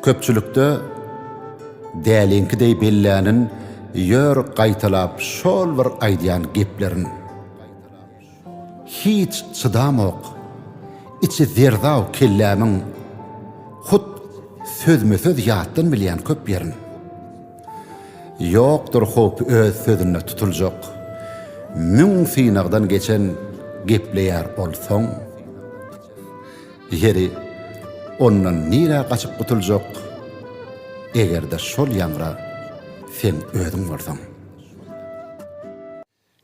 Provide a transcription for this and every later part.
Köpçülikde dälinki deý bellänin ýör gaýtalap şol bir aýdýan geplerin. Hiç çydamok, içi zerzaw kellämiň Hut sözme-söz ýatdan bilýän köp ýerin. Ýokdur howpy öz sözünde tutuljak, Müň synagdan geçen gepleýär ol soň. Ýeri, ondan nirä gaçyp gutuljak, Eger-de şol ýaňra sen özüň bolsaň.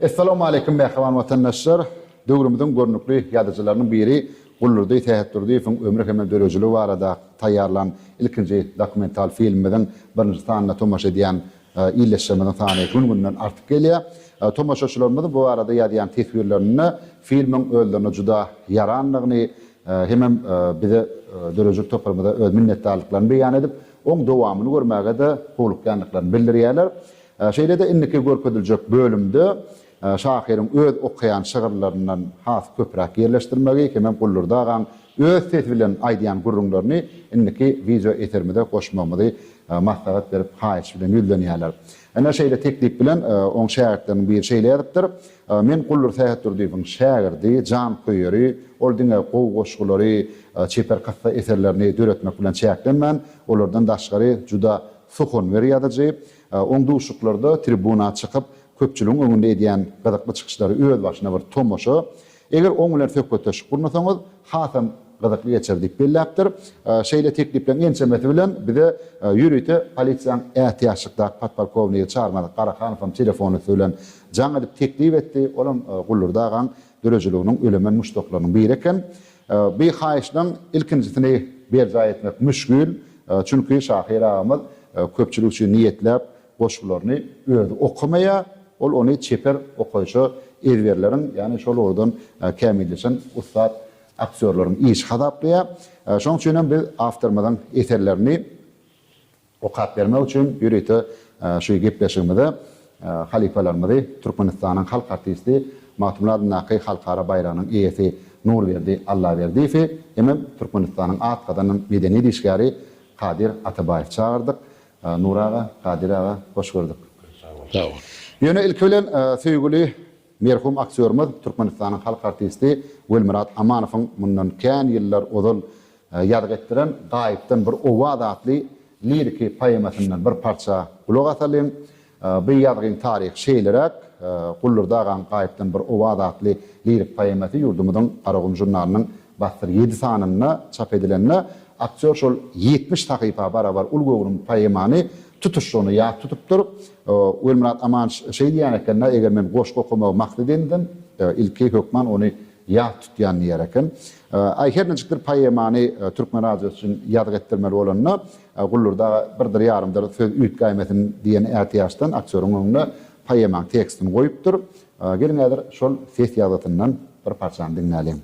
Essalawmaleýkim mähriban watandaşlar! Döwrümiziň görnükli ýazyjylarynyň biri Guldurdy Sähetdurdyýewiň ömri hem-de dörejiligi barada taýýarlan ilkinji dokumental filmimiziň birinji sanyna tomaşa edýän ildeşlerimiziň sany gün-günden artyp gelýär. Tomaşaçylarymyzyň bu barada ýazýan teswirlerinde filmiň özlerine juda ýarandygyny hemem bize döredijilik toparymyza öz minnetdarlyklaryny beýan edip, oň dowamyny görmäge-de howlukýandyklaryny bildirýärler. Şeýle-de indiki görkeziljek bölümde şahyryň öz okaýan şygyrlaryndan has köpräk ýerleşdirmegi hemem Guldurdy agaň öz sesi bilen aýdýan gürrüňlerini indiki wideo eserimize goşmagymyzy maslahat berip haýyş bilen ýüzlenýärler. Ine şeýle teklip bilen oň şägirtleriniň biri şeýle ýazypdyr, Men Guldur Sähetdurdyýewiň şägirdi, janköýeri, ol diňe gowy goşgulary, çeper kyssa eserlerini döretmek bilen çäklenmän, olardan daşgary juda suhunwer ýazyjy, Oň duşuklarda tribuna çykyp, köpçüligiň öňünde edýän gyzykly çykyşlary öz başyna bir tomaşa. Eger oň bilen söhbetdeşlik gurnasaňyz, hasam gyzykly geçer diýip belläpdir. Şeýle teklipleriň ençemesi bilen bize ýörite polisiýanyň ätiýaçlykdaky podpolkownigi Çarmazat Garahanowam telefon üsti bilen jaň edip teklip etdi. Olam Gullurdy agaň döredijiliginiň ölemen muşdaklarynyň biri eken. Bu haýyşlaryň ilkinjisini berjaý etmek müşgil, çünki şahyr agamyz köpçülik üçin niýetläp goşgularyny özi okamaýar, ol ony çeper okaýşa ezberleriň, ýagny şol ugurdan kämilleşen ussat aktýorlaryň işi hasaplaýar. Şonuň üçin hem biz awtorymyzyň eserlerini Okap bermek üçin ýörite şu gepleşigimize halypalarymyzy Türkmenistanyň halk artisti, Magtymguly adyndaky halkara baýragynyň eýesi Nurberdi Allaberdiýewi hemem Türkmenistanyň at gazanan medeniýet işgäri Kadyr Atabaýewi çagyrdyk. Nury aga, Kadyr aga, hoş gördük. Sag boluň. Ýöne ilki bilen söýgüli merhum aktýorymyz Türkmenistanyň halk artisti Welmyrat Amanowyň mundan kän ýyllar ozal Ýazgy etdiren Gaýypdan bir owaz atly liriki poemasyndan bir parça gulak asalyň. Bu ýazgyň taryhy şeýleräk, Guldurdy agaň Gaýypdan bir owaz atly lirik poemasy ýurdumyzyň Garagum žurnalynyň Bassyr ýedi sanynda çap edilende, aktýor şol ýetmiş sahypa barabar uly göwrüm poemany tutuşlygyna ýat tutupdyr. Welmyrat Amanç şeý diýen eken-dä, Eger men goşgy okamagy maksat edindim, ilki hökman ony ýat tutýan diýer eken. Aý, her niçikdir poemany Türkmen radiosy üçin ýazgy etdirmeli bolanda, Gullurda birdir-ýarymdyr söz üýtgäýmesin diýen ätiýaçdan aktýoryň öňüne poemaň tekstini goýupdyr. Geliň häzir şol ses ýazgysyndan bir parçany diňläliň.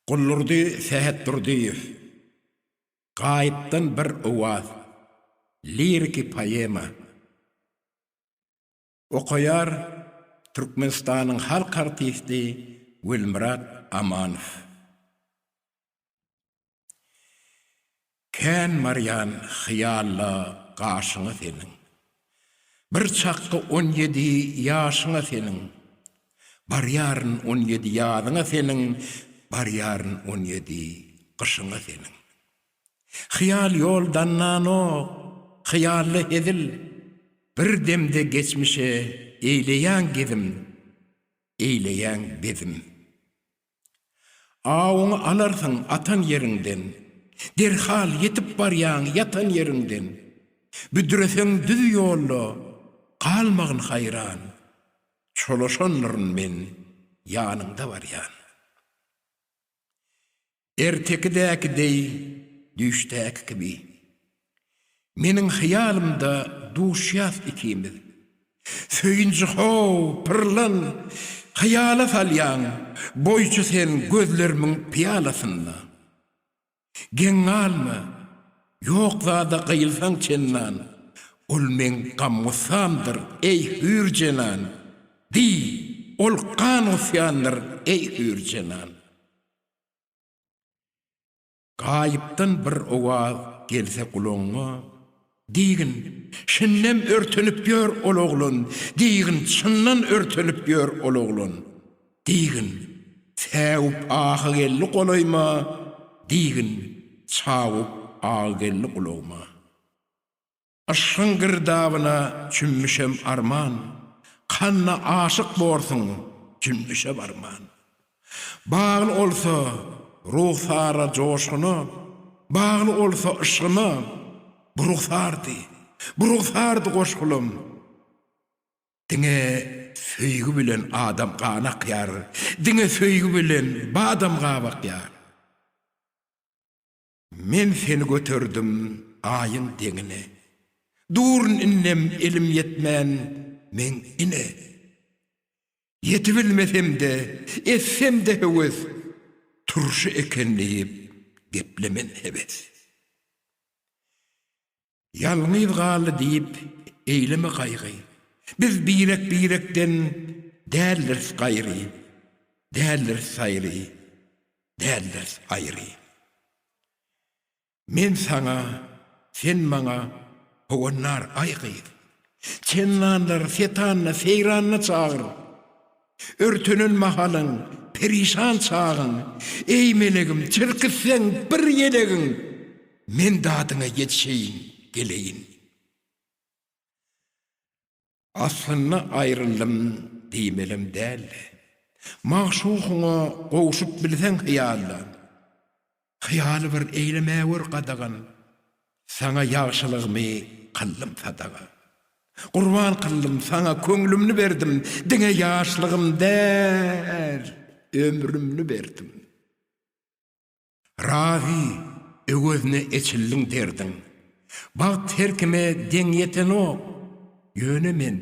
Gullurdy Sähetdurdyýew, Gaýypdan bir owaz, liriki poema. Okaýar Türkmenistanyň halk artisti Welmyrat Amanow. Kän barýan hyýalla gaşyňa seniň, Bir çakga on ýedi ýaşyňa seniň, Barýaryn on ýedi ýazyňa seniň, Barýaryn on ýedi gyşyňa seniň. Hyýal ýol dananok, hyýalda hezil. Bir demde geçmişe eýleýäň gezim, eýleýäň bezim. Awuňy alarsyň atan ýeriňden, derhal ýetip barýaň ýatan ýeriňden. Büdreseň düz ýolda, galmagyn haýran, çolaşandyryn men ýanyňda barýan. Ertekidäki deý düýşdäki kibi. Meniň hyýalymda duşýas ikimiz. Söýünji how, pyrlan, hyýala salýaň, Goýçy sen gözlerimiň pyýalasyna. Geň galma, ýok zada gyýylsaň çennan, Ol meň gam-gussamdyr, eý, hüýr jenan! Diý, ol gan-gusýandyr, eý, hüýr jenan! Gaýypdan bir owaz gelse gulagyňa, Diýgin, şindem örtenip ýör ol oglan, Diýgin, çyndan örtenip ýör ol oglan, Diýgin, säwip ahy geldi golaýyma, Diýgin, çawup agy geldi gulagyma. Yşgyň girdabyna çümmüşem arman, Kanna aşyk borsuň, jümmüşe barman. Bagly olsa rugsara joşguna, Bagly olsa yşgyna, Bu rugsardy, bu rugsardy goşgulam. Diňe söýgi bilen adam gan akýar, Diňe söýgi bilen badam gabakýar. Men seni göterdim Aýyň deňine, Durun indem elim ýetmän meň ine. Ýetibilmesem-de, etsem-de höwes, Turşy eken diýip, geplemen hebes. Ýalňyz galdy diýip eýleme gaýgy, Biz birek-birekden däldiris gaýry, Däldiris saýry, däldiris aýry. Men saňa, sen maňa howannar, aý gyz, Çendanlar, setanna, seýranna çagyr. Örtünen mahalyň, perişan çagyň, Eý, melegim, çirkitseň bir ýelegiň, Men dadyňa ýetişeýin, geleýin. Aslynda aýryldym diýmelem däldi. Magşugyňa gowşup bilseň hyýalda. Hyýal bir eýlemäwür gadagan, Saňa ýagşylygymy kyldym sadaga. Gurban kyldym saňa köňlümni berdim, Diňe ýaşlygym däl, ömrümni berdim. Razy, öwezine eçildiň derdiň, Bagt her kime deň ýetenok, Ýöne men,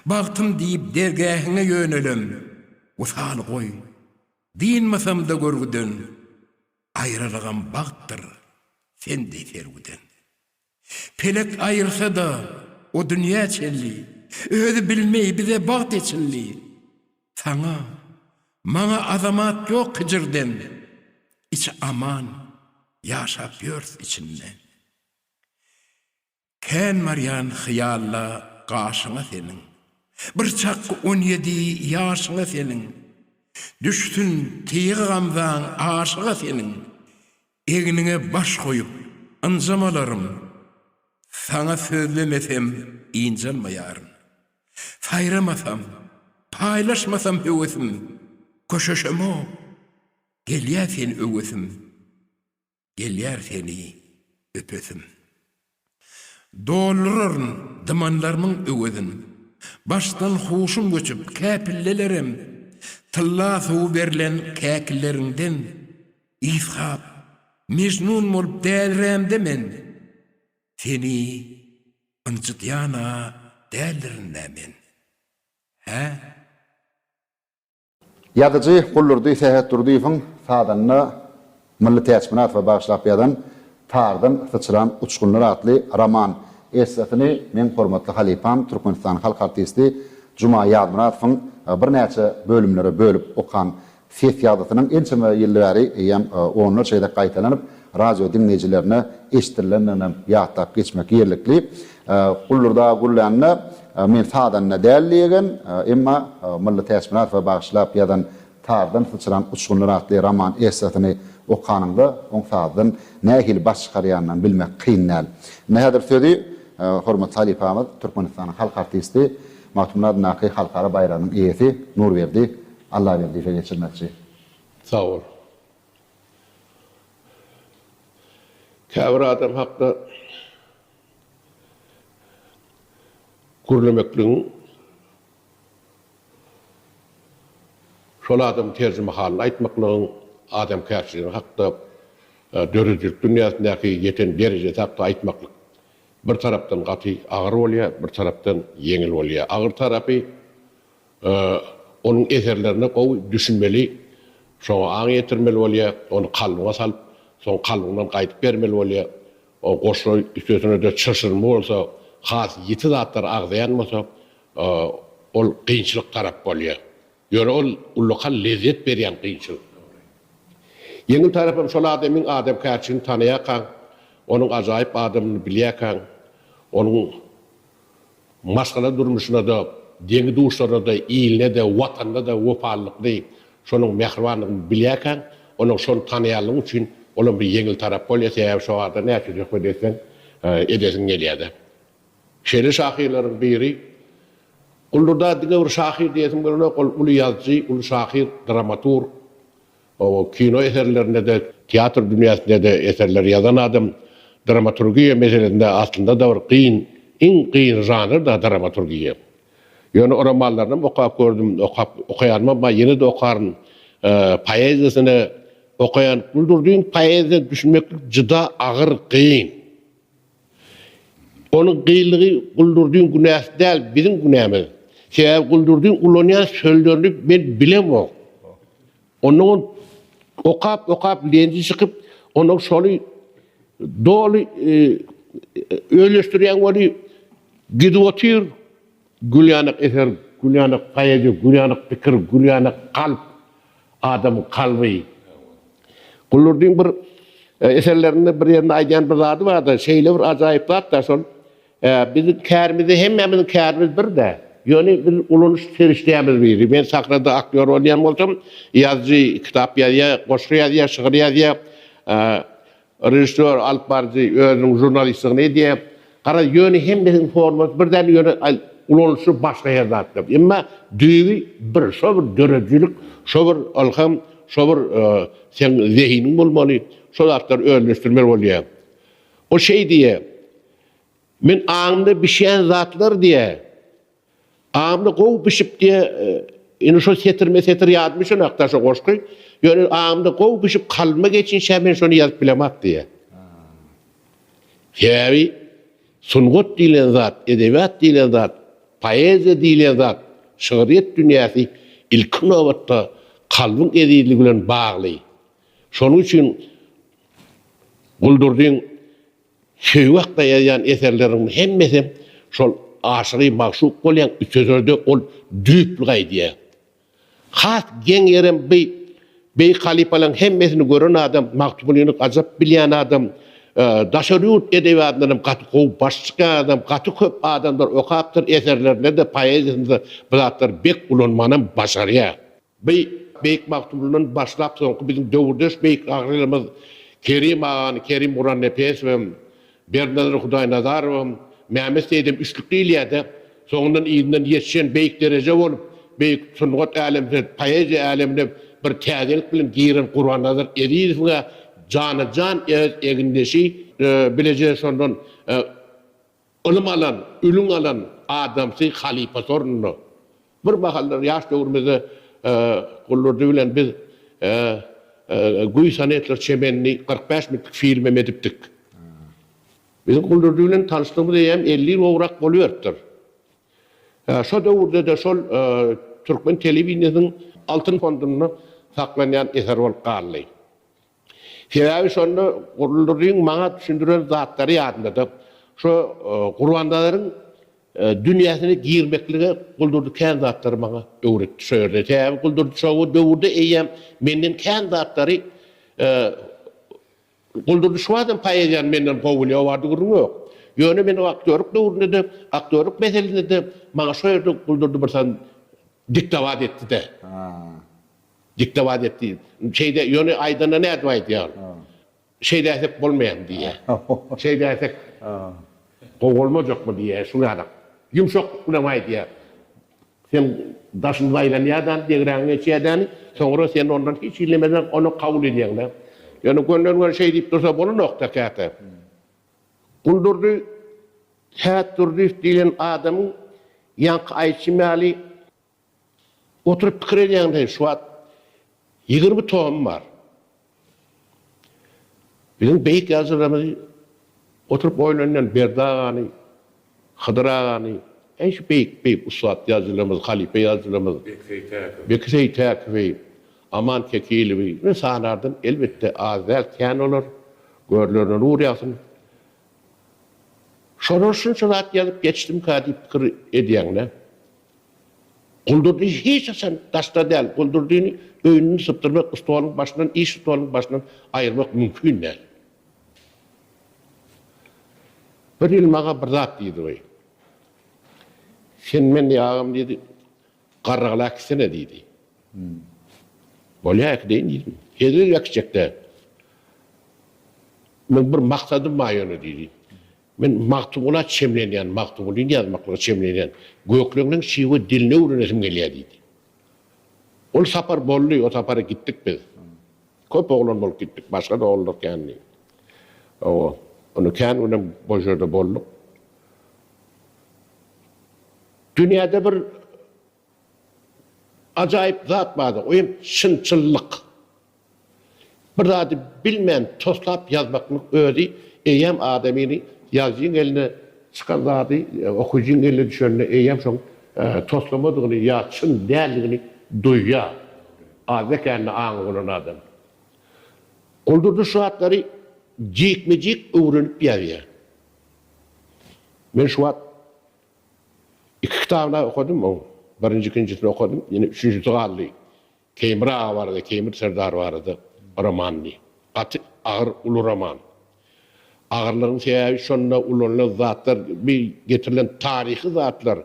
bagtym diýip dergähiňe ýönelem, Wysal goý, Dynmasamda görgüden, Aýralygam bagtdyr, sen deý serwiden. Pelek aýyrsa-da, o dünýä çenli, Özi bilmeý bize bagt eçildi. Saňa, maňa azamat ýok hijirden, Içi aman, ýaşap ýörs içinde. Kän barýan hyýalla gaşyňa seniň, Bir çak on ýedi ýaşyňa seniň, Düşsün tygy gamzaň aşyga seniň, Egniňe baş goýup, ynjamalaryn, Saňa sözlemesem ynjalmaýaryn. Saýramasam, paýlaşmasam höwesim, Köşeşemok, gelýä sen öwesim. Gelýär seni öpesim. Dolduraryn dymanlarymyň öwezin. Başdan huşum göçüp, kä pillelerem, Tylla suwy berlen käkileriňden, Yshak, Mejnun bolup dälirämde men, Seni ynjydýan-a däldirin-dä men. Hä? Ýazyjy Guldurdy Sähetdurdyýewiň sazanda Mylly Täçmyradowa bagyşlap ýazan Tardan syçran uçgunlar atly roman essesyny meň hormatly halypam, Türkmenistanyň halk artisti Juma Ýazmyradowyň birnäçe bölümlere bölüp okan ses ýazgysynyň ençeme ýyl bäri eýýäm onlarça gezek gaýtalanyp, Radio diňleýjilerine eşidirilendigini hem ýatlap geçmek ýerlikli. Gullurda gürlände men sazanda däl diýegen, emma Mylly Täçmyradowa bagyşlap ýazan Sazdan syçran uçgunlar atly roman essesyny okanyňda oň sazdan nähili baş çykarýanyny bilmek kyn däl. Indi häzir sözi hormatly halypamyz, Türkmenistanyň halk artisti, Magtymguly adyndaky halkara baýragynyň eýesi Nurberdi Allaberdiýewe geçirmekçi. Sag bol. Käbir adam hakda gürlemekligiň şol adamyň terjimehalyny aýtmaklygyň adamkärçiligi hakda, döredijilik dünýäsindäki ýeten derejesi hakda aýtmaklyk bir tarapdan gaty agyr bolýar, bir tarapdan ýeňil bolýar. Agyr tarapy Onuň eserlerine gowy düşünmeli, şoňa aň ýetirmeli bolýar, ony kalbyňa salyp, soň kalbyňdan gaýdyp bermeli bolýar. O goşgy üstesine-de çylşyrymly bolsa, has ýiti zatlary agzaýan bolsa, ol kynçylyk tarap bolýar. Ýöne ol ullakan lezzet berýän kynçylyk. Ýeňil tarapam şol adamyň adamkärçiligini tanaýarkaň, onuň ajaýyp adamdygyny bilýärkäň, onuň Maşgala durmuşyna-da, deňi-duşlaryna-da, iline-de, Watanyna-da wepalylykly, şonuň mähribanlygyny bilýärkäň, onuň şony tanaýanlygy üçin olam bir ýeňil tarap bolýar, sebäbi şo barada näçe söhbet etseň, edesiň gelýär-de. Şeýle şahyrlaryň biri, Guldurda diňe bir şahyr diýesim gelenok, ol uly ýazyjy, uly şahyr, dramaturg. Gowy kino eserlerinde-de, teatr dünýäsinde-de eserler ýazan adam dramaturgiýa meselesinde aslynda-da bir kyn, iň kyn žanr-da dramaturgiýa. Ýöne romanlarynam okap gördüm, okap, okaýanymam bar, ýene-de okaryn. Poeziýasyny okaýan, Guldurdynyň poeziýasyna düşünmeklik juda agyr, kyn. Onuň gyýylygy Guldurdyň günäsi däl, biziň günämiz. Sebäbi Guldurdyň ulanýan sözlerini men bilemok. Onuň okap-okap lenji çykyp, onuň şony doly özleşdirýän weli gidip otyr, Gülýanak eser, gülýanak poeziýa, gülýanak pikir, gülýanak kalp, adamyň kalby. Gulurdyň bir eserlerinde bir ýerinde aýdýan bir zady bar-da, şeýle bir ajaýyp zat-da şol, Biziň kärimiz-de, hemmämiziň kärimiz bir-dä. Ýöne biz ulanyş serişdämiz biri. Men sahnada aktýor bolýan bolsam, ýazyjy kitap ýazýar, goşgy ýazýar, şygyr ýazýar. Režissýor, alyp baryjy özüniň žurnalistligini edýär. Garaz, ýöne hemmesiniň formasy bir däl, ýöne ulanyşy başga her zatlar. Emma düýbi bir, şo bir döredijilik, şo bir ylham, şo bir seň zehiniň bolmaly, şo zatlary özleşdirmeli bolýar. O şeý diýýär, Men aňymda bişýän zatlar diýýär, Aňymda gowy bişip diýe Indi şo setirme setir ýadyma şonakda şo goşgy. Ýöne aňymda gowy bişip kalbyma geçinçä men şony ýazyp bilemok diýe. Sebäbi sungat diýlen zat, edebiýat diýlen zat, poeziýa diýlen zat, şygryýet dünýäsi ilki nobatda kalbyň ezizligi bilen bagly. Şonuň üçin Guldurdyň Söýgi hakda ýazýan eserleriňiň hemmesem şol aşygy magşuk bolýaň üteseride ol düýpli gaýdýar. Has geň ýerem by beýik halypalaň hemmesini gören adam Magtymgulyny gajap bilýän adam daşary ýurt edebiýatyndanam gaty gowy baş çykýan adam gaty köp adamlar okapdyr eserlerinde-de poeziýasynda bu zatlar bek ulanmanam başarýar. By Beýik Magtymgulydan başlap soňky biziň döwürdeş beýik gahrylymyz Kerim agany Kerim Gurannepesowyam, Berdinazar Hudaýnazarowam, Mämmet Seýidem üçlük diýilýär-de, soňundan yzyndan ýetişen beýik dereje bolup, beýik sungat älemine, poeziýa älemine bir täzelik bilen giren Gurbannazar Ezizowyň-a jana-jan öz egindeşi, bileje şondan Ylym alan, ülüň alan adamsy halypasy ornuna. Bir mahallar ýaş döwrümizde Guldurdy bilen biz Güý sonetler çemenli kyrk bäş minutlyk film hem edipdik. Biziň Guldurdy bilen tanyşdygymyz eýýäm elli ýyl gowrak boluberipdir. Şo döwürde-de şol türkmen telewideniýesiniň Altyn fondunda saklanýan eser bolup galdy. Sebäbi şonda Gurlurdyň maňa düşündiren zatlary ýadymdada. Şo Gurbandadaryň dünýäsine girmeklige Guldurdy kän zatlary maňa öwretdi şo ýerde. Sebäbi Guldurdy şo döwürde eýýäm menden kän zatlary Guldurdy şu badam poeziýany menden gowy bilýär, o barada gürrüň ýok. Ýöne men o aktýorlyk döwründe-de, aktýorlyk meselesinde-de maňa şo ýerde Guldurdy birsan diktowat etdi-de. Diktowat et diýip. Şeýde, ýöne aýdanda nädip aýdýar? Şeýdäýsek bolmaýam diýýär. Şeýdäýsek gowy bolmajakmy diýýär, şuny adam. Ýumşaklyk bilen aýdýar. Sen daşyny zaýlanýadany, degräňi geçýädäni, soňra sen ondan hiç iýlemeseň, ony kabul edýäňdä. Ýöne gönden-göni şeý diýip dursa bolanok-da käte. Guldurdy Sätdurdyýew diýlen adamyň ýaňky aýtşym ýaly, Oturyp pikir edýäň deý, şu wagt ýigrimi tom bar. Biziň beýik ýazyjylarymyz oturyp oýlanýan Berdi agany, Hydyr agany, äý şu beýik, beýik ussat ýazyjylarymyz, halypa ýazyjylarymyz, Beki Seýtäkowy, Aman Kekilowy, men sanardan elbetde az däl, kän olar, görlerine nur ýagsyn. Şolar şunça zat ýazyp geçdimkä diýip pikir edýäň-dä. Guldurdy hiç haçan daşda däl, Guldurdyny öýünden sypdyrmak, stoluň başyndan, iş stoluň başyndan aýyrmak mümkin däl. Bir ýyl maňa bir zat diýdi we Sen meni agam diýdi, garrygala äkitsene diýdi. Bolýar äkideýin diýdim. Hezil äkitjek däl. Meň bir maksadym bar ýöne diýdi. Men Magtymgula çemlenýän, Magtymgulyny ýazmaklyga çemlenýän. Gökleňleň şiwe dilini öwrenesim gelýär diýdi. Ol sapar boldy, o sapara gitdik biz. Köp oglan bolup gitdik, başga-da oglanlar kändi. Hawa, onda kän günem o ýerde bolduk. Dünýäde bir. Ajaýyp zat bardy, o hem çynçyllyk. Bir zady bilmän toslap ýazmaklyň özi eýýäm adamyny ýazyjyň eline çykan zady okyjyň eline düşende eýýäm şoň toslamadygyny ýa çyn däldigini duýýar. Adyna kände aňy bolan adam. Guldurdy şu zatlary jikme-jik öwrenip ýazýar. Men şu wagt Iki kitabyny-a okadym oň. Birinji, ikinjisini okadym. Ýene üçünjisi galdy. Teýmir aga barada, Teýmir serdar barada romandy. Gaty agyr, uly roman. Agyrlygyň sebäbi şonda ulanylan zatlar, bi getirilen taryhy zatlar.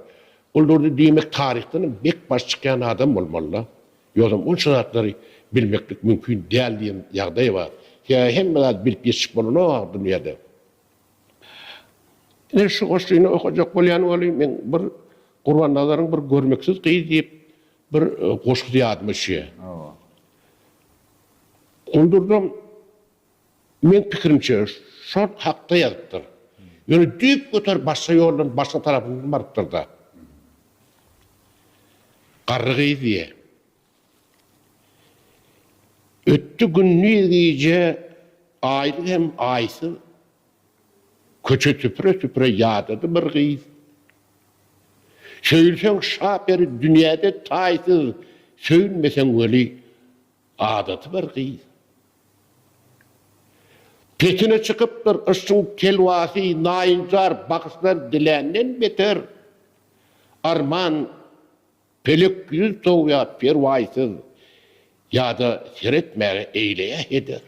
Guldurdy diýmek taryhdanam bek baş çykýan adam bolmaly-da. Ýogsam onça zatlary bilmeklik mümkin däl diýen ýagdaý bar. Sebäbi hemme zady bilip ýetişip bolanok-a dünýäde. Ine şu goşgyny okajak bolýan welin meň bir Gurbannazaryň bir Görmeksiz gyz diýip bir goşgusy ýadyma düşýär. Hawa. Gundurda meň pikirimçe şol hakda ýazypdyr. Ýöne düýp göter başga ýoldan başga tarapyndan barypdyr-da. Garry gyz diýýär. Ötdi gündiz gije aýly hem aýsyz, Köçe süpüre-süpüre ýadady bir gyz. Söýülseň şa peri dünýäde taýsyz, Söýülmeseň weli adady bir gyz. Petine çykypdyr yşkyň telwasy, Naýynjar bagyşlar diländen beter, Arman Pelek ýüz sowýar perwaýsyz, Ýa-da seretmäge eýleýär heder.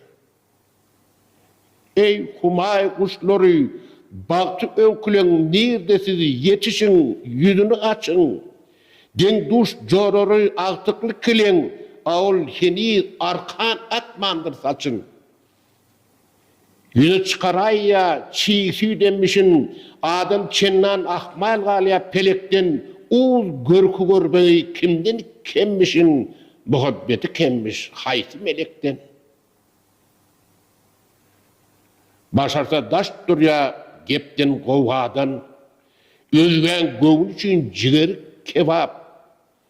Eý, Humaý guşlary, bagty öwküleň Nirde siz, ýetişiň, ýüzüni açyň! Deň-duş jorary agtykly keleň, A ol heniz arkan atmandyr saçyn. Ýüze çykaraýýa çig süýt emmişin, Adam çendan ahmal galýa pelekden, Uz görki görbegy kimden kemmişin, Muhabbeti kemmiş haýsy melekden? Başarsa daş durýa gepden gowgadan, Özgäň göwni üçin jigeri kebap,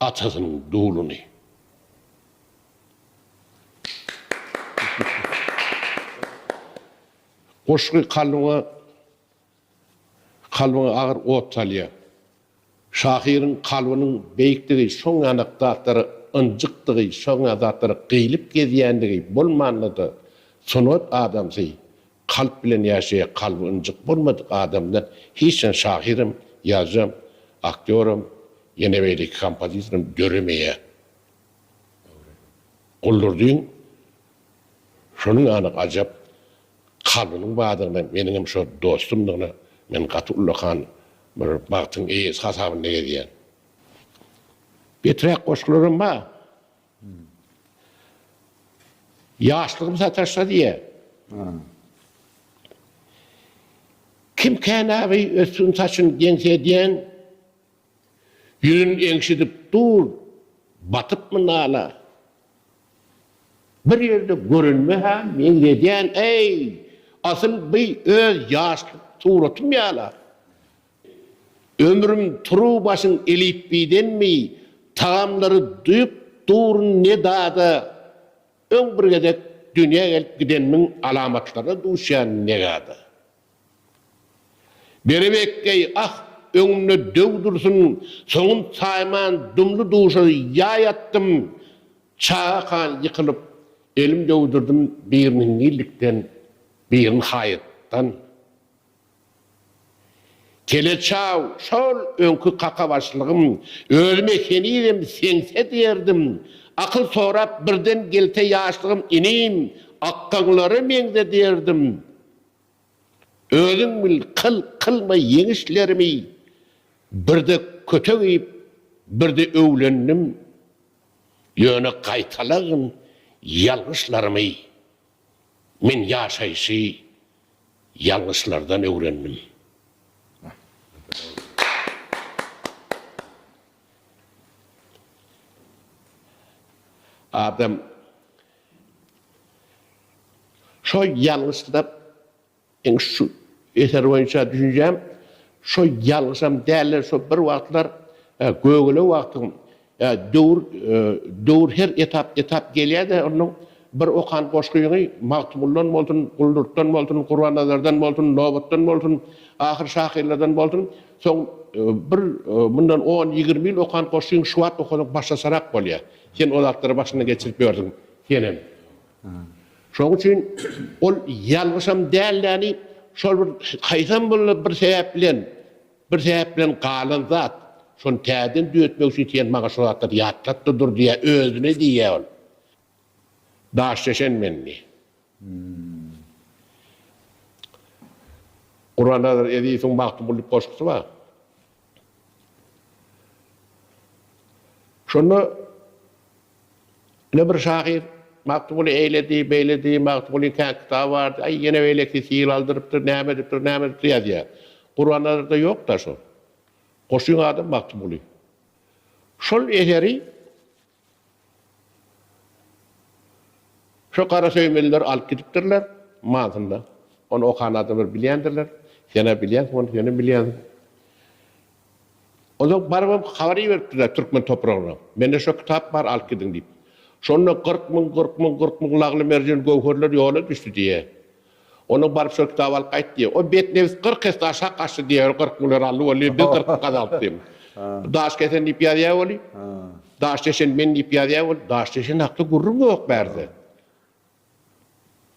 atasynyň duluny. Goşgy kalbyňa kalbyňa agyr ot salýar. Şahyryň kalbynyň beýikdigi şoňňanak zatlara ynjykdygy, şoňňa zatlara gyýlyp gezýändigi bolmanda-da sungat adamsy Kalp bilen ýaşaýa kalby ynjyk bolmadyk adamdan hiç hany şahyram, ýazyjam, aktýoram, ýene beýleki kompozitoram döremeýär. Guldurdyň şonuň anyk ajap kalbynyň bardygyna meniňem şo dostumdygyna men gaty ullakan bir bagtyň eýesi hasabynda gezýän. Beträk goşgularam bar. Ýaşlygym sataşsa diýe. Kim känägi ötsün saçyn geňsi edýän, ýüzün eňşidip dur, batypmy nala. Bir ýerde görünme-hä meňzedýän, eý, asyl bi öz ýaşlyk suratym ýala. Ömrüm turuw başyň elipbidenmi tagamlary duýup durun ne dada öň bir gezek dünýä gelip gidenmiň alamatlaryna duşýan negada. Berebekeý ah öňümde döw dursun soňum saýman dumly duşa ýaý atdym çaga kan ýykylyp elim döwdürdim birini hingillikden birini haýatdan Teleçaw, şol öňki kakabaşlygym. Özüme henizem seňse diýerdim. Akyl sorap birden gelse ýaşlygym, inim, akgaňlara meňze diýerdim. Özüň bil, kyl, kylma ýeňişlerimi, birde kötek iýip, birde öwlendim. Ýöne gaýtalagyn ýalňyşlarymy. Men ýaşaýşy ýalňyşlardan öwrendim. Adam şo ýalňyşlap Meň şu eser boýunça düşünjem şo ýalňyşam däldir şo bir wagtlar gögele wagtyň döwür döwür her etap etap gelýäde onuň bir okan goşgyňy Magtymguldan bolsun Guldurtdan bolsun Gurbannazardan bolsun Nobatdan bolsun ahyr şahyrlardan bolsun soň bir mundan on ýigrimi ýyl okan goşgyň şu wagt okasaň başgaçarak bolýa sen o zatlary başyndan geçirip ýörsiň senem Şonuň üçin ol ýalňyşam dälläni şol bir haýsam bollar bir sebäp bilen, bir sebäp bilen galan zat. Şony täzeden düýetmek üçin sen maňa şu zatlary ýatlat-da dur diýýä, özüne diýýä ol. Daş çeşen men diýýä. Gurbannazarow Ezizowyň Magtymguly diýip goşgusy bar. Şonda. Ine bir şahyr, Magtymguly eýledi, beýledi, Magtymgulyň kä kitaby bardy, aý, ýene beýlekisi hil aldyrypdyr, näme edipdir, näme edipdir ýazýar. Gurbannazarda ýok-da şol. Goşun adam Magtymguly. Şol eseri şu garasöýmeliler alyp gidipdirler, mansyna. Ony okan adamlar bilýändirler. Sen-ä bilýänsiň ony, senem bilýänsiň. Onsoň barybam habar iberipdirler türkmen topragyna. Mende şo kitap bar, alyp gidiň diýip. Şonda kyrk müň, kyrk müň, kyrk müň lagly-merjen göwherler ýola düşdi diýýä. Onsoň baryp şo kitaby alyp gaýt diýýä. O betnebis kyrk esse aşak gaçdy diýýä, ol kyrk müňleri aldy welin, biz kyrk müň gazalyp diýip. Daş kesen diýip ýazýar welin, daş deşen men diýip ýazýar welin, daş deşen hakda gürrüň ýok bärde.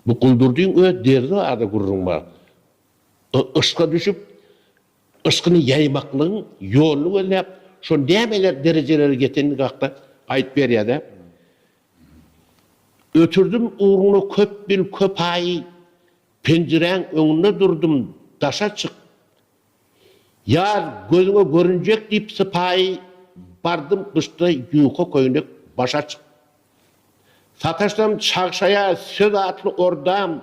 Bu Guldurdyň öz derdi barada gürrüň bar. Yşka düşüp. Yşkyny ýaýmaklygyň ýoluny gözläp, şol nämeler derejelere ýetenligi hakda aýdyp berýär-de, Ötürdim ugruňda köp bil, köp aý, penjiräň öňünde durdum, daşa çyk, ýaz gözüňe görünjek diýip sypaýy, bardym gyşda ýuka köýnek başa çyk. Sataşsam çagşaýa söz atly ordam,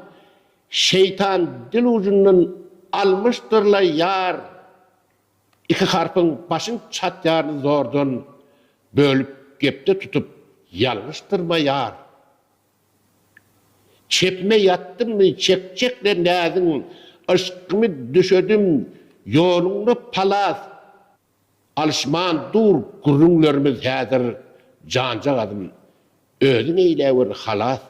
Şeýtan dil ujundan almyşdyr-laý ýar iki harpyň başyň çatýaryny zordan bölüp gepde tutup ýalňyşdyrma ýar. Çepime ýatdymmy çekjekler näziň yşkymy düşedim ýoluňda palas Alyşman dur gürrüňlerimiz häzir janjagazym özüň eýläwer halas.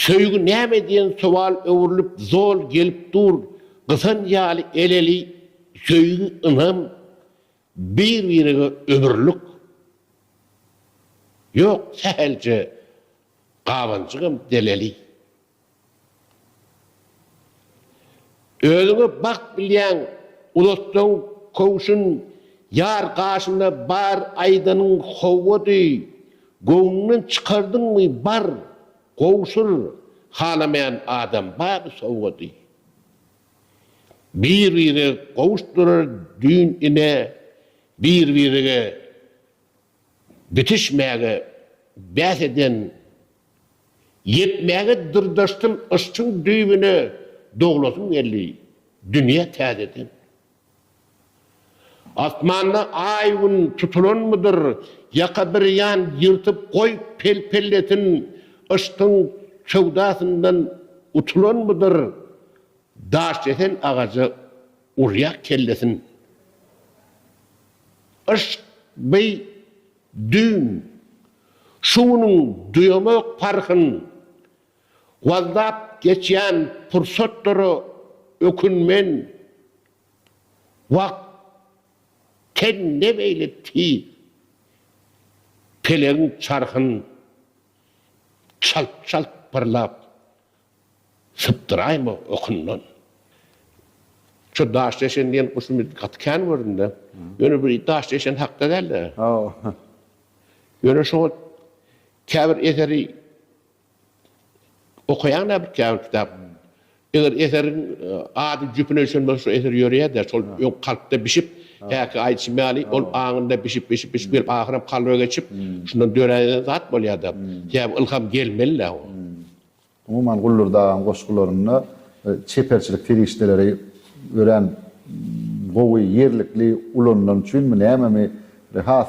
Söýgi näme diýen sowal öwrülip zol gelip dur gysan ýaly eleli söýgi ynam bir birege ömürlik ýok sähelje gabanjygam deleli. Özüňe bagt bilýäň uzatsaň köwşün Ýar gaşynda bar aýdanyň howady Göwnüňden çykardyňmy bar gowşur Halamaýan adam baby sowgady Bir-bire gowuşdyrar düýn ine Bir-birege bitişmäge bäs eden Ýetmäge dyrdaşdym yşkyň düýbüne Doglasym geldi dünýä täzeden. Asmanda aý-gün tutulanmydyr Ýaka bir ýan ýyrtyp goý pel-pellesin Yşkyň söwdasyndan utulanmydyr Daşkesen agaja urýa kellesin. Yşk, beý, düýn. Şu günüň duýamak parhyn wazlap geçýän pursatlara ökünmen. Wagt ten ne beýle tiz, pelegiň çarhyn çalt-çalt pyrlap Sypdyraýma okundan. Şu daşdeşen diýen guşy men gaty kän gördüm-de. Ýöne bu daşdeşen hakda däl-de. Hawa. Ýöne şoňa käbir eseri okaýaň-da bir käbir kitap. Eger eseriň ady jüpüne düşen bolsa şo eser ýöreýär-de, şol öň kalpda bişip, häki aýdyşym ýaly, ol aňynda bişip-bişip-bişip gelip ahyram kalba geçip, şundan döräýen zat bolýar-da. Sebäbi ylham gelmeli-dä o. Umuman, Guldur Dagaň goşgularynda çeperçilik serişdeleri örän gowy, ýerlikli ulanylan üçinmi, nämemi, has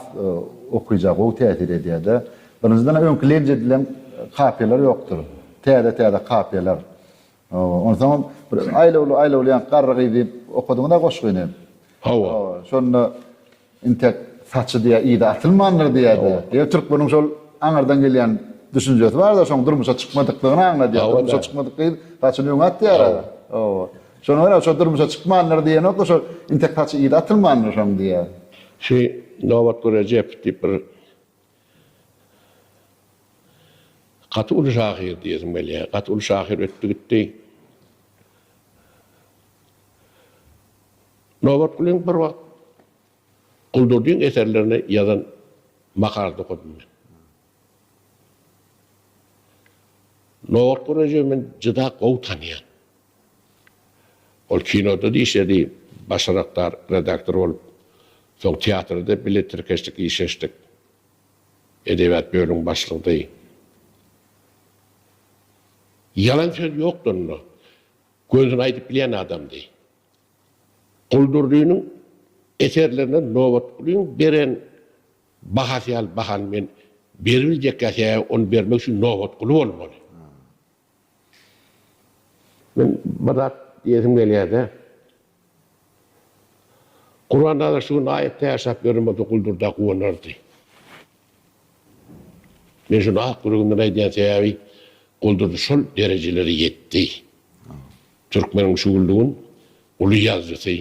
okyja gowy täsir edýär-de. Birinjiden, öňki lej edilen kapiýalar ýokdur. Täze-täze kapiýalar. Onsoňam, bir aýlawly-aýlawly ýaňky garry gyzy okadyň-da goşgyny. Hawa. Şonda. Intek saçy diýýär, yzy atylmandyr diýýär-de. Ýöne türkmeniň şol aňyrdan gelýän düşünjesi bar-da, şoň durmuşa çykmadyklygyny aňladýar. Durmuşa çykmadyk gyz saçyny öňe atýar-a. Hawa. Şonuň ýaly-a, şo durmuşa çykmandyr diýenok-da, şo intek saçy yzy atylmandyr şoň diýýär. Şi Nobatguly Rejep diýip bir gaty uly şahyr diýesim gelýär. Gaty uly şahyr ötdi gitdi. Nobatgulyň bir wagt Guldurdyň eserlerine ýazan makalasy okadym men. Nobatguly Rejebi men juda gowy tanýan. Ol kinoda-da işledi, başarakdar redaktor bolup. Soň teatrda bile tirkeşdik, işleşdik. Edebiýat bölümiň başlygydy. Ýalan söz ýokdy onda. Gönüsini aýdyp bilýän adamdy. Guldurdynyň eserlerine Nobatgulyň beren bahasy ýaly bahany men beribiljekkä sebäbi ony bermek üçin Nobatguly bolmaly. Men bir zat diýesim gelýärde. Gurbannazar şu gün aýat täşlap beren bolsa Guldurda guwanardy. Men şuny ak ýüregimden aýdýan sebäbi Guldurdy şol derejelere ýetdi. Türkmeniň şugluň uly ýazyjysy,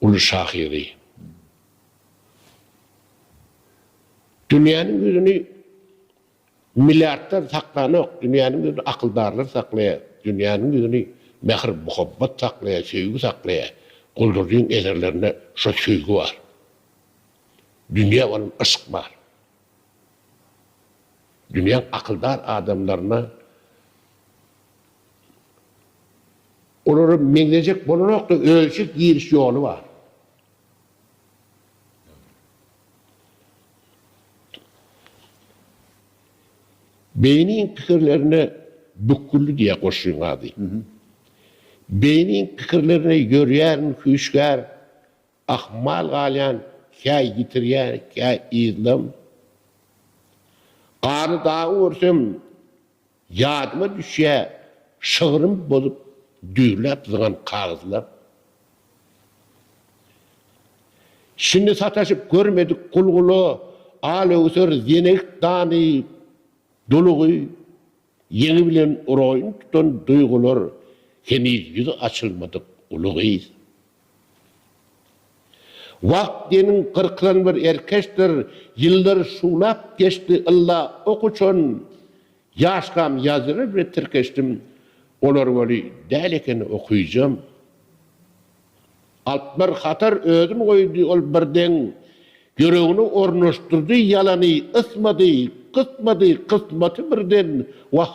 uly şahyry. Dünýäniň ýüzüni milliardlar saklanok, dünýäniň ýüzüni akyldarlar saklaýar, dünýäniň ýüzüni mähir-muhabbat saklaýar, söýgi saklaýar. Guldurdyň eserlerinde şo söýgi bar. Dünýä bolan yşk bar. Dünýäň akyldar adamlaryna olara meňzejek bolanokda özçe giriş ýoly bar. Beýniň pikirlerine bükgüldi diýýär goşgyň ady. Beýniň pikirlerine ýörýärin hüşgär Ahmal galýan kä ýitirýär kä yzlam. Garly dagy görsem ýadyma düşýä şygrym bozup düýrläp zyňan kagyzlam. Şindi sataşyp görmedik gulgula al öwser zenegik dany dulugy. Ýeňi bilen uraýyn tutan duýgular heniz ýüzi açylmadyk uly gyz. Wagt deniň gyrkylan bir erkeçdir, ýyllar şuwlap geçdi ylla ok uçan, ýaşkam ýazýalar bile tirkeşdim, olar weli däl ekeni okyjam. Alp bir hatar özün goýdy ol birden Ýüregine ornaşdyrdy ýalany Ysmady, gysmady kysmaty birden Wah,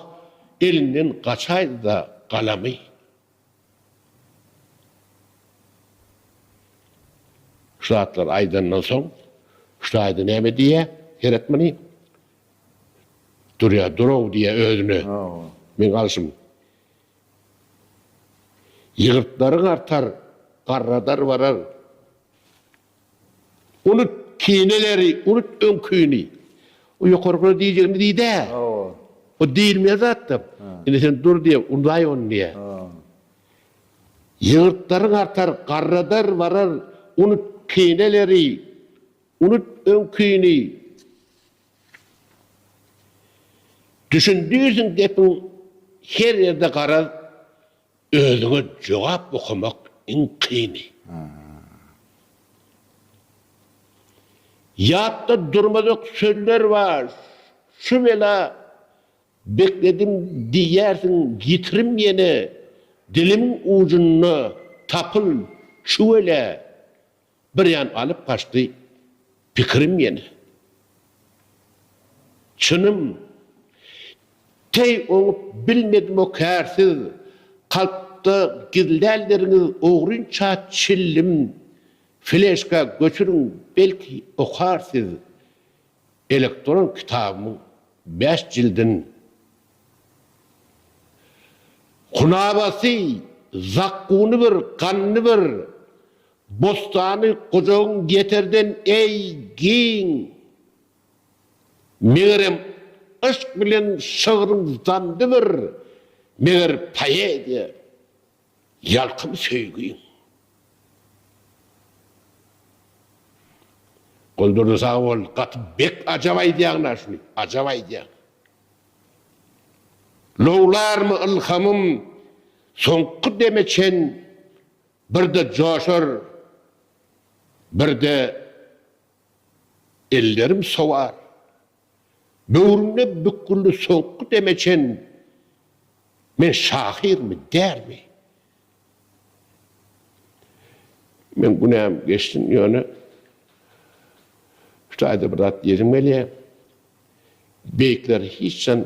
elinden gaçaýdy-da galamy. Şu zatlary aýdandan soň, şaýda näme diýýä, seret muny. Durýa, dur-ow diýýä özüne. Meň alşym. Ýygyrtlaryň artar, garradar barar. Unut kineleri, unut öňkini. O ýokarkylar diýjegini diýdä. O diýilmeýän zatda. Indi sen dur diýe, undaý ony diýe. Ýygyrtlaryň artar, garradar barar. Unut kineleri, unut öňkini. Düşündirsiň gepiň her ýerde garaz özüňe jogap okamak iň kyny. Ýatda durmazak sözler bar şu bela bekledim diýýärsiň ýitirim ýene dilimiň ujunda tapyl çüwelä Birem alyp gaçdy pikirim ýene. Çynym, teý oňup bilmedim o kärsiz kalpda gizlänleriňiz ogrynça çillim fleşka göçüriň belki okar siz elektron kitabymyň bäş jildin. Hunabasy, zakkuny bir, ganny bir, Bostany gujagyň ýeterden eý giň. Megerem yşk bilen şygryň zandy bir Meger poeziýa ýalkym söýgiň. Goldurdy sag bol gaty bek ajap aýdýaň da şuny ajap aýdýaň. Lowlarmy ylhamym soňky deme çen Bir-de joşar, bir-de ellerim sowar. Böwrümde bükgülli soňky deme çen men şahyrmy, dälmi? Meň günäm geçsin, ýöne şu taýda bir zat diýesim gelýär. Beýikler hiç han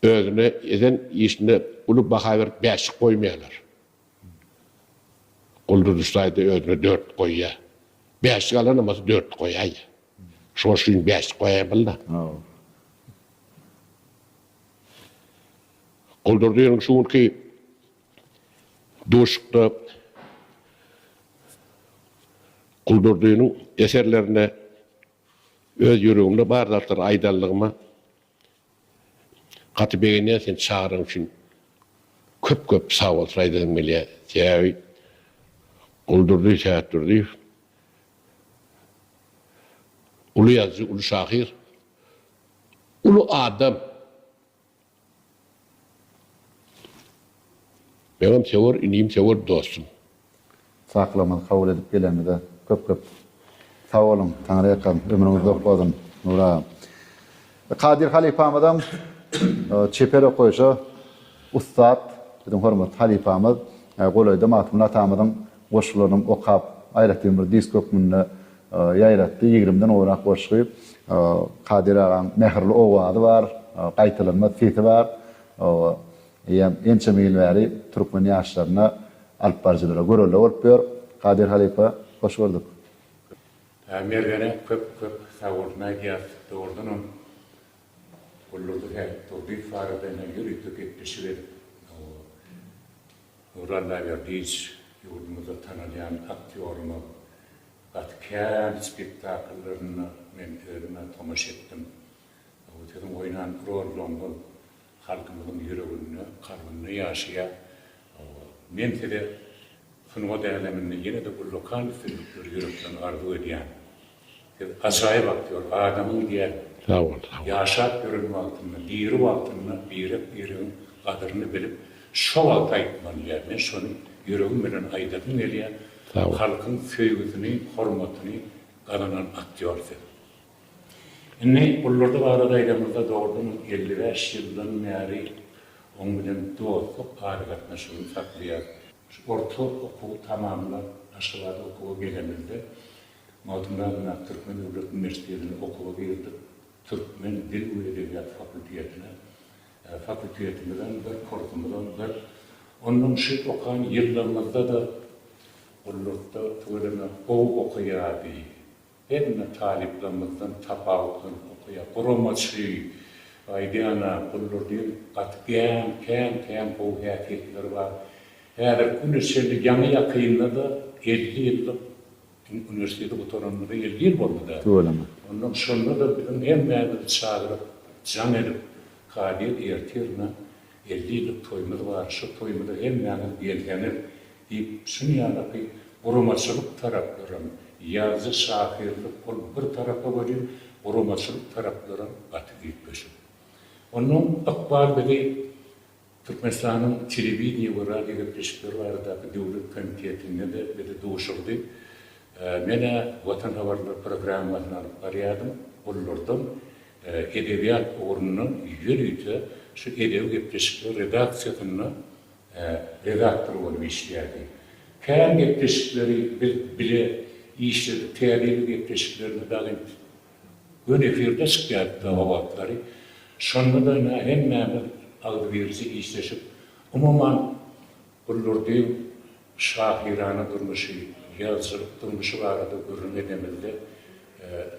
özüne eden işine uly baha berip bäşlik goýmaýarlar. Gulduzy saýda özüne dört goýýa. Bäşlik alan bolsa dört goýaýýa. Şoň üçin bäşlik goýaýmaly-da. Gulduzynyň şu günki duşakda Gulduzynyň eserlerinde öz ýüregimde bar zatlary aýdanlygyma Gaty begenýän seni çagyran üçin köp köp sag bolsun aýdasym gelýä sebäbi Guldurdy Sähetdurdyýew uly ýazyjy uly şahyr uly adam. Meňem söwer inim söwer dostum. Çaklygymyzy kabul edip geleniňize köp köp sag boluň. Taňryýakam ömrüňiz uzak bolsun Nury agam. Kadyr halypamyzam çeper okaýyşa ussat biziň hormatly halypamyz. Golaýda Magtymguly atamyzyň Goşgularyny okap, aýratyn bir disk hökmünde ýaýratdy. Ýigrimden gowrak goşgy. Kadyr agaň mähirli owazy bar, gaýtalanmaz sesi bar. Eýýäm ençeme ýyl bäri türkmen ýaşlaryna, alyp baryjylara görelde bolup ýör. Kadyr halypa, hoş gördük. Mergene köp köp sagboluň aýdýas. Dogrudanam Gullurdy Durdyýew barada ýörite gepleşik edip Nurlan Mämmerdiýewiç ýurdumyzda tanalýan aktýorymyz. Gaty kän spektakllaryna men özüm-ä tomaşa etdim. Bu siziň oýnan rollaryňyz halkymyzyň ýüreginde, kalbynda ýaşaýar. Men size sungat äleminde ýene-de ullakan üstünlikleri ýürekden arzuw edýän. Biz ajaýyp aktýor, adamyň idealy. Sag bol, sag bol. Ýaşap ýören wagtynda, diri wagtynda birek-biregiň gadyryny bilip, şo wagt aýtmaly ýa. Men şony ýüregim bilen aýdasym gelýä. Sag bol. Halkyň söýgüsini, hormatyny gazanan aktýor siz. Indi Gulludy barada aýdamyzda dogrudan hem elli bäş ýyldan bäri oň bilen dostluk aragatnaşygyny saklaýas. Şu orta okuwy tamamlap Aşgabada okuwa gelenimizde Magtymguly Aydemir Türkmen döwlet uniwersitetine okuwa girdik. Türkmen dil we edebiýat fakultetine. Fakultetimiz-ä bir, kursumyzam bir. Ondan şu okan ýyllarymyzda-da gullukda tüweleme gowy okaýardy. Hemme talyplarymyzdan tapawutlanyp okaýardy. Guramaçy, aýdýan-a, Guldur diýen gaty gän, kän, kän gowy häsiýetleri bar. Häzirki güne çenli ýaňy-ýakynda-da elli ýyllyk Diňe uniwersiteti gutaranymyza elli ýyl boldy-da. Tüweleme. Ondan şonda-da biziň hemmämizi çagyryp, jaň edip, Kazyýet ertirine elli ýyllyk toýumyz bar, şo toýumyza hemmäňiz gelseňiz diýip, şuny ýalyky guramaçylyk taraplaram, ýazyjy şahyrlyk ol bir tarapa welin, guramaçylyk taraplaram gaty üýtgeşik. Ondan ykbal bizi Türkmenistanyň Telewideniýe we radiogepleşikleri baradaky döwlet komitetinde-de bizi duşurdy. Men-ä Watan habarlar programmasyny alyp barýardym. Ollardan edebiýat ugrundan ýörite şu edebi gepleşikler redaksiýasynda redaktor bolup işleýärdi. Kän gepleşikleri biz bile işledik, täze ýyl gepleşiklerini dagy Gün efirde çykýardy o wagtlary. Şonda-da ine hemmämiz agzybirje işleşip, umuman, bu Lurdyň şahyrana durmuşy, ýazyjylyk durmuşy barada gürrüň edemizde,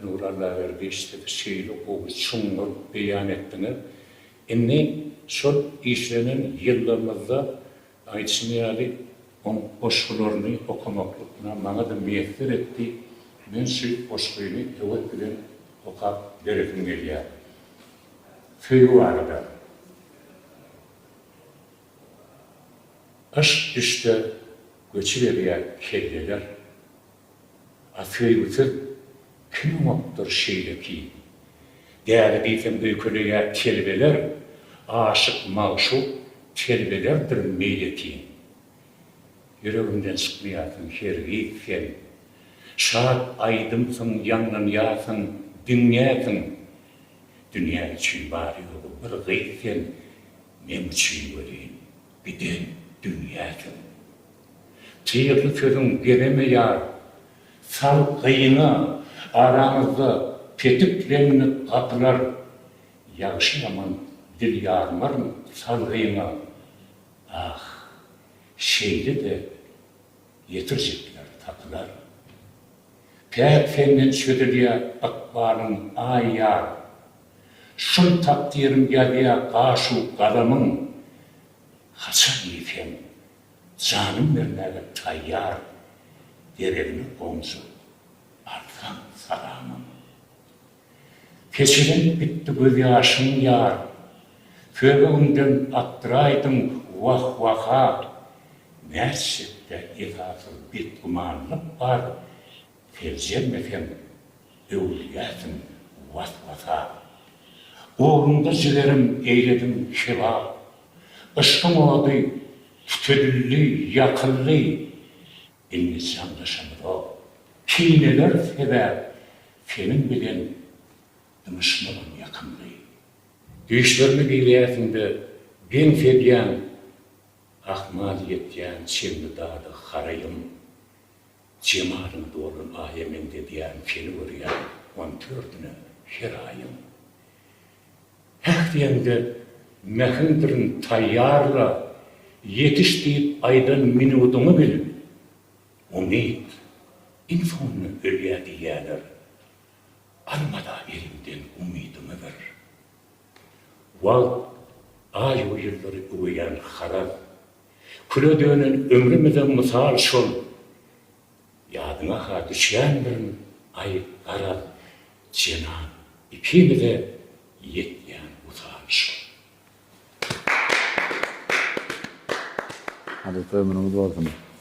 Nury Allaberdiýewiç, siz şeýle gowy, çuňňur beýan etdiňiz. Indi şol işlenen ýyllarymyzda Aýdyşyň ýaly, oň goşgularyny okamaklygyna maňa-da miýesser etdi, men şü goşgyny höwes bilen okap beresim gelýär. Söýgi barada. Yşk-düşde göçüberýär kelleler. A söýgüsiz kim bopdur şeýle kim? Däde diýseň öýkeleýä telbeler, Aşyk, magşuk telbelerdir meýletin. Ýüregimden çykmaýarsyň hergiz sen, Şat aýdymsyň ýaňlanýarsyň diňňätin. Dünýä üçin bary-ýogy bir gyz sen, Meň üçin welin, Giden dünýä çün. Çygly sözüň gezeme ýar, Sal gyýyňa, araňyzda petik reňňek gapylar, Ýagşy-ýaman dil ýarmaryn sal gyýyňa, Ah, şeýle-de ýetirjekler tapylar. Päk senden çözülýä ykbalyň, aý ýar! Şol takdyryň ýazýa gaşu galamyň Haçan diýseň janym bermäge taýýar Deregine gonjak alsaň salamyň Keçelenip gitdi göz ýaşym ýar Söýgüňden atdyraýdyň wah waha Nätjekde esasyz betgümanlyk bar Seljermeseň Öwülýärsiň was-wasa. Ugrunda jigerim eýlediň keba. Yşkyň ody tütedildi, ýakyldy. Indi janlaşamyzok. Kineler sebäp seniň bilen zyňyşmagam ýakymly. Düýşlerime girýärsiň-de, geň sedýäň. Ahmal ýetýän çenli dady haraýym. Jemalyň dolan aýa meňzedýärin seni görýän on tördüne her aýyň Häh diýeňde mähimdirin taýýarla ýetiş diýip aýdan minudyňy bil Umyt iň soňunda ölýä diýýäler Almada eliňden umydyňy bir. Wagt, aý we ýyllary üweýän haraz. Küle dönen ömrümize mysal şol. Ýadyňa-ha düşýändirin, aý, garaz, jenap, ikimize ýetýän wysal şol. Halypa ömrüňiz bolsun.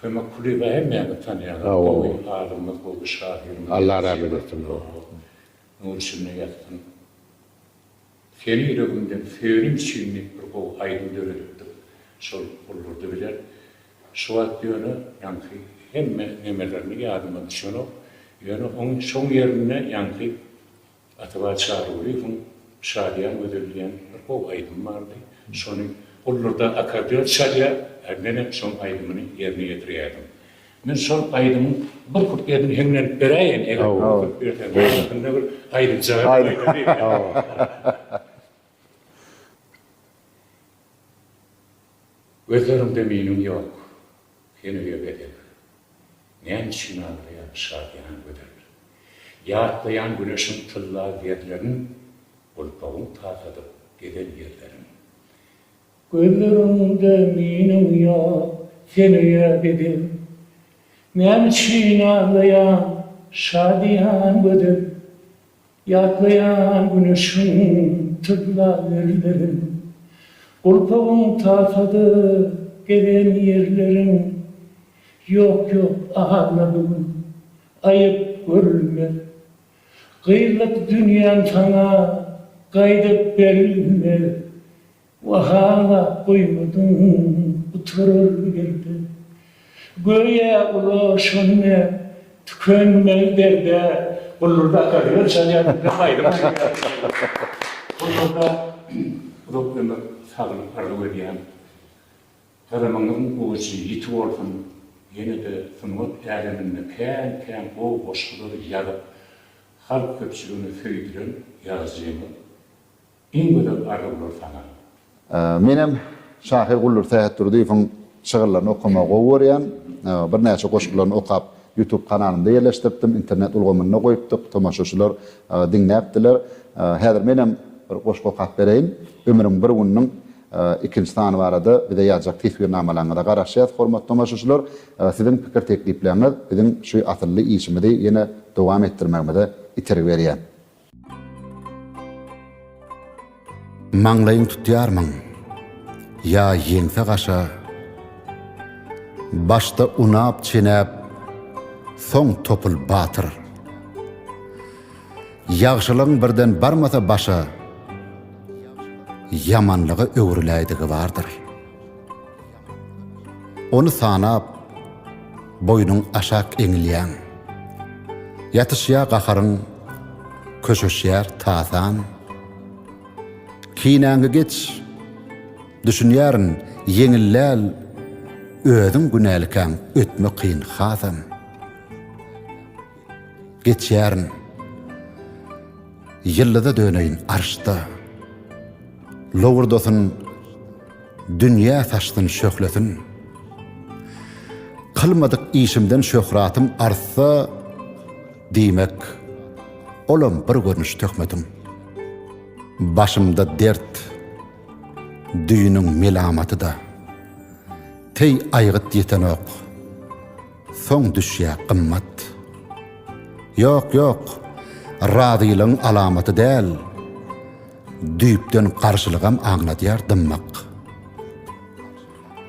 Kömek Kulyýewa hemmämiz tanýarys. Gowy alymymyz, gowy şahyrymyz. Allah rahmet etsin. Nury içinde ýatsyn. Seni ýüregimden söýenim üçin diýip bir gowy aýdym döredipdir. Şol gullurdy bilen. Şu wagt ýöne ýaňky hemme nemelerini ýadyma düşenok. Ýöne oň şoň ýerinde ýaňky Atabay Çarygulyýewiň Şadyýan gözel diýen bir gowy aýdymy bardy. Şony gullurda akkordeon çalýar, a menem şoň aýdymyny ýerine ýetirýärdim. Men şol aýdymyň bir kuplesini heňňe edip beräýen, eger mümkinçilik berseň. Wagtynda bir aýdyljagy dek aýdym diýip. Gözleriňde meniň ýok henüge bedel, Näme üçin aglaýar şadyýan gözel? Ýatlaýan güneşiň tylla ýerlerin, Gulpagyň takadyp gezen ýerlerin. Gözleriňde meniň ýok henüge bedel, Näme üçin aglaýar şadyýan gözel? Ýatlaýan güneşiň tylla erlerin, Gulpagyň tasada gezen ýerlerin, Ýok, ýok, agla bu gün, aýyp görülmez, Gyzlyk dünýäň saňa gaýdyp berilmez, Wahalap goýmadyň gutarar ýerde. Göýä ulaşan näp, tükenmez derde. Gullurda akkordeon çalýar, has aýdym aýdýar. Gullurda uzak ömür, saglyk arzuw edýän. Gazamyňyzyň ujy ýiti bolsun, ýene-de sungat äleminde kän-kän gowy goşgular ýazyp, halk köpçüligini söýdüren ýazyjymyz. Iň gözel arzuwlar saňa. Menem şahyr Guldur Sähetdurdyýewiň şygyrlaryny okamagy gowy görýän. Birnäçe goşgularyny okap YouTube kanalymda ýerleşdiripdim. Internet ulgamynda goýupdyk. Tomaşaçylar diňläpdiler. Häzir menem bir goşgy okap bereýin. Ömrüň bir gününiň ikinji sany barada bize ýazjak teswirnamalaryňyza garaşýas hormatly tomaşaçylar. Siziň pikir teklipläňiz biziň şu asylly işimizi ýene dowam etdirmegimize itergi berýär. Maňlaýyň tutýarmyň? Ýa ýeňse gaşa? Başda unap çenäp, soň topul batyr. Ýagşylygyň birden barmasa başa, Ýamanlyga öwrüläýdigi bardyr. Ony sanap, boýnuň aşak eňilýäň. Ýatyşýar gaharyň, köşeşýär tasan. Kinäňi geç, düşünýärin, ýeňil däl, özüň günälikäň, ötme kyn hasam. Geçýärin. Ýyldyza döneýin arşda. Lowurdasyn. Dünýä saçsyn şöhletin. Kylmadyk işimden şöhratym artsa, diýmek, olam bir görnüş töhmetin. Başymda dert, düýnüň melamaty-da. Teý aýgyt ýetenok, soň düşýä gymmat. Ýok, ýok, razylygyň alamaty däl. Düýpden garşylygam aňladýar dymmak.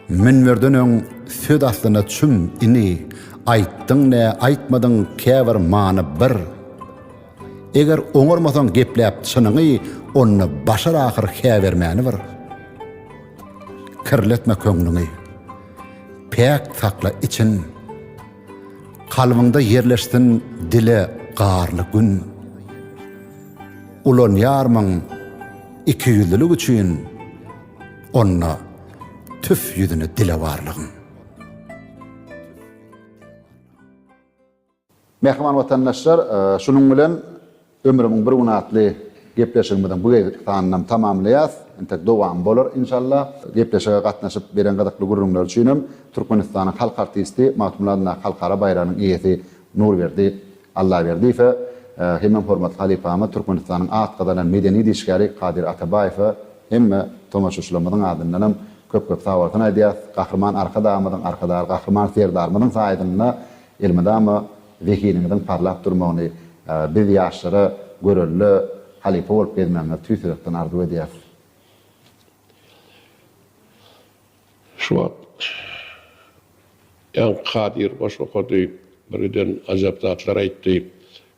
Münberden öň söz aslyna çüm ini aýtdyň ne aýtmadyň käbir many bir. Eger oňarmasaň gepläp çynyňy onda başar ahyr hä bermäni bir. Kirletme köňlüňi. Päk sakla için. Kalbyňda ýerleşsin dile garly gün. Ulanýarmyň ikiýüzlülik üçin, onda tüf ýüzüni dilewarlygyň. Mähriban watandaşlar, şunuň bilen. Ömrümiň bir güni atly gepleşigimiziň bu gezekki sanynam tamamlaýas. Entek dowamy bolar inşallah. Gepleşige gatnaşyp beren gyzykly gürrüňler üçin hem Türkmenistanyň halk artisti, Magtymguly adyndaky halkara baýragynyň eýesi Nurberdi Allaberdiýewe hemem hormatly halypamyz Türkmenistanyň at gazanan medeni işgäri Kadyr Atabaýewe hemme tomaşaçylarymyzyň adyndan hem köp-köp sagbolsun aýdýas. Gahryman Arkadagymyzyň, Arkadagly Gahryman Serdarymyzyň saýasynda elmydama Zehiniňiziň parlap durmagyny biz ýaşlara görelde halypa bolup gezmegiňizi tüýs ýürekden arzuw edýäris. Şu wagt Ýaňky Kadyr goşgy okady, birgiden ajap zatlar aýtdy.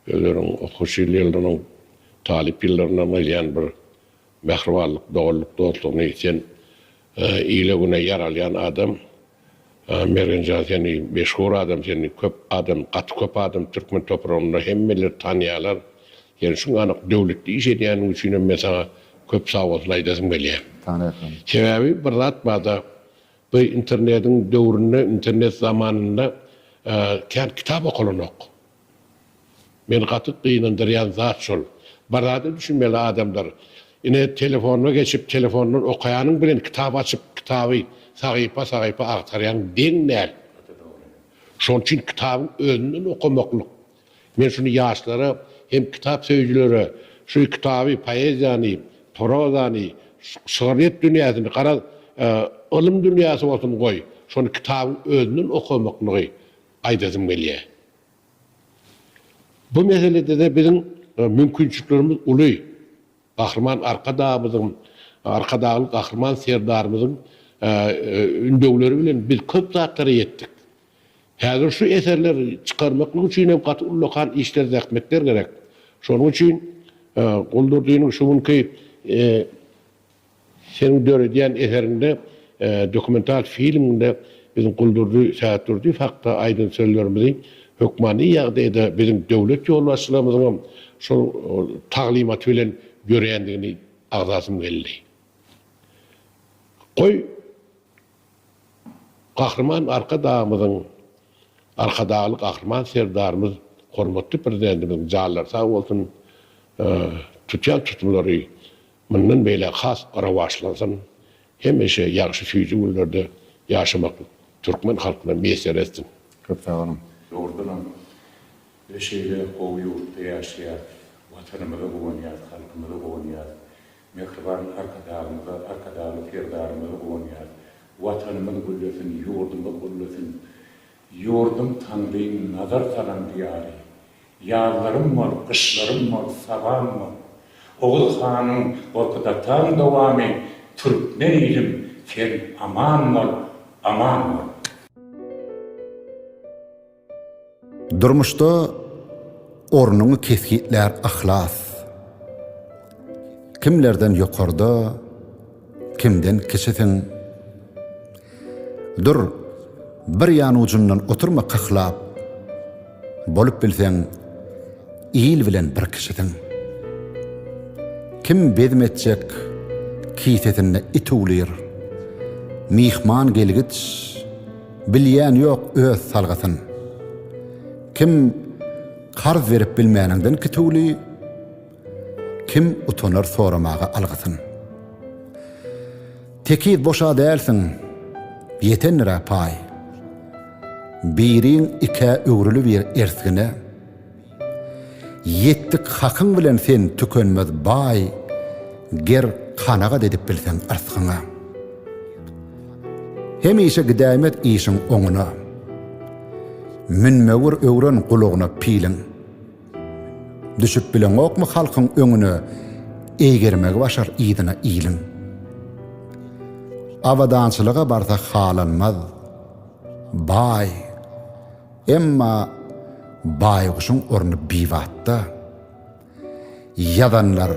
Özleriň okuwçy ýyllarynyň, talyp ýyllaryndan gelýän bir Mähribanlyk, doganlyk, dostlugyny ýiten, ile-güne ýaralýan adam Mergenjan sen meşhur adam sen köp adam gaty köp adam türkmen topragynda hemmeler tanýalar sen şuň anyk döwletli iş edýäniň üçinem men saňa köp sagbolsun aýdasym gelýär. Tanýarkam. Sebäbi bir zat barda bu internediň döwründe internet zamanynda kän kitap okalanok. Meni gaty gynandyrýan zat şol. Barada düşünmeli adamlar. Ine telefonyna geçip telefondan okaýanyň bilen kitap açyp kitaby sahypa sahypa agtarýaň deň däl. Şoň üçin kitabyň özünden okamaklyk. Men şuny ýaşlara hem kitap söýüjilere şu kitaby poeziýany, prozany, şygryýet dünýäsini garaz ylym dünýäsi bolsun goý şony kitabyň özünden okamaklygy aýdasym gelýär. Bu meselede-de biziň mümkinçiliklerimiz uly. Gahryman Arkadagymyzyň, Arkadagly Gahryman Serdarymyzyň ündewleri bilen biz köp zatlara ýetdik. Häzir şu eserleri çykarmaklyk üçin hem gaty ullakan işler, zähmetler gerek. Şonuň üçin Guldurdynyň şu günki Seniň döredýän eseriňde, dokumental filmiňde biziň Guldurdy Sähetdurdyýew hakda aýdan sözlerimizi hökmany ýagdaýda biziň döwlet ýolbaşçylarymyzyňam şol taglymaty bilen ýörendigini agzasym geldi. Goý, Gahryman Arkadagymyzyň, Arkadagly Gahryman Serdarymyz, hormatly Prezidentimiziň janlary sag bolsun, tutýan tutumlary Mundan beýläk has rowaçlansyn, hemişe ýagşy süýji günlerde ýaşamak türkmen halkyna miýesser etsin. Köp sag boluň. Dogrudanam biz şeýle gowy ýurtda ýaşaýarys, Watanymyza guwanýarys, halkymyza guwanýarys, mähriban Arkadagymyza, Arkadagly Serdarymyza guwanýarys. Watanymyz güllesin, ýurdumyz güllesin. Ýurdum Taňryň nazar salan diýary. Ýazlarym bor, gyşlarym bor, sabam bor. Oguz hanyň Gorkut ataň dowamy Türkmen ilim sen aman bol, aman bol. Durmuşda ornuňy kesgitlär yhlas. Kimlerden ýokarda. Kimden kiçisiň? Dur, bir ýan ujundan oturma kyhlap. Bolup bilseň, il bilen bir kişisiň. Kim bezm etjek, kisesinde it uwlyr. Myhman gelgiç, bilýän ýok öz salgysyn. Kim karz berip bilmäniňden kituwly. Kim utanar soramaga algysyn. Tekiz boş-a dälsiň, ýetendir-ä paý. Biriň ikä öwrülibir ersgine. Ýetdik hakyň bilen sen tükenmez baý, ger kanagat edip bilseň yrsgyňa. Hemişe gidäýmez işiň oňuna. Münmewir öwren gulagyna piliň. Düşüp bileňokmy halkyň öňüne Eýgermegi başar yzyna iliň. Abadançylyga barsa halanmaz Baý Emma baýguşuň orny bibatda Ýazanlar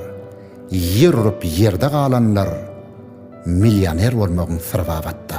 ýer urup ýerde galanlar Millioner bolmagyň syry babatda.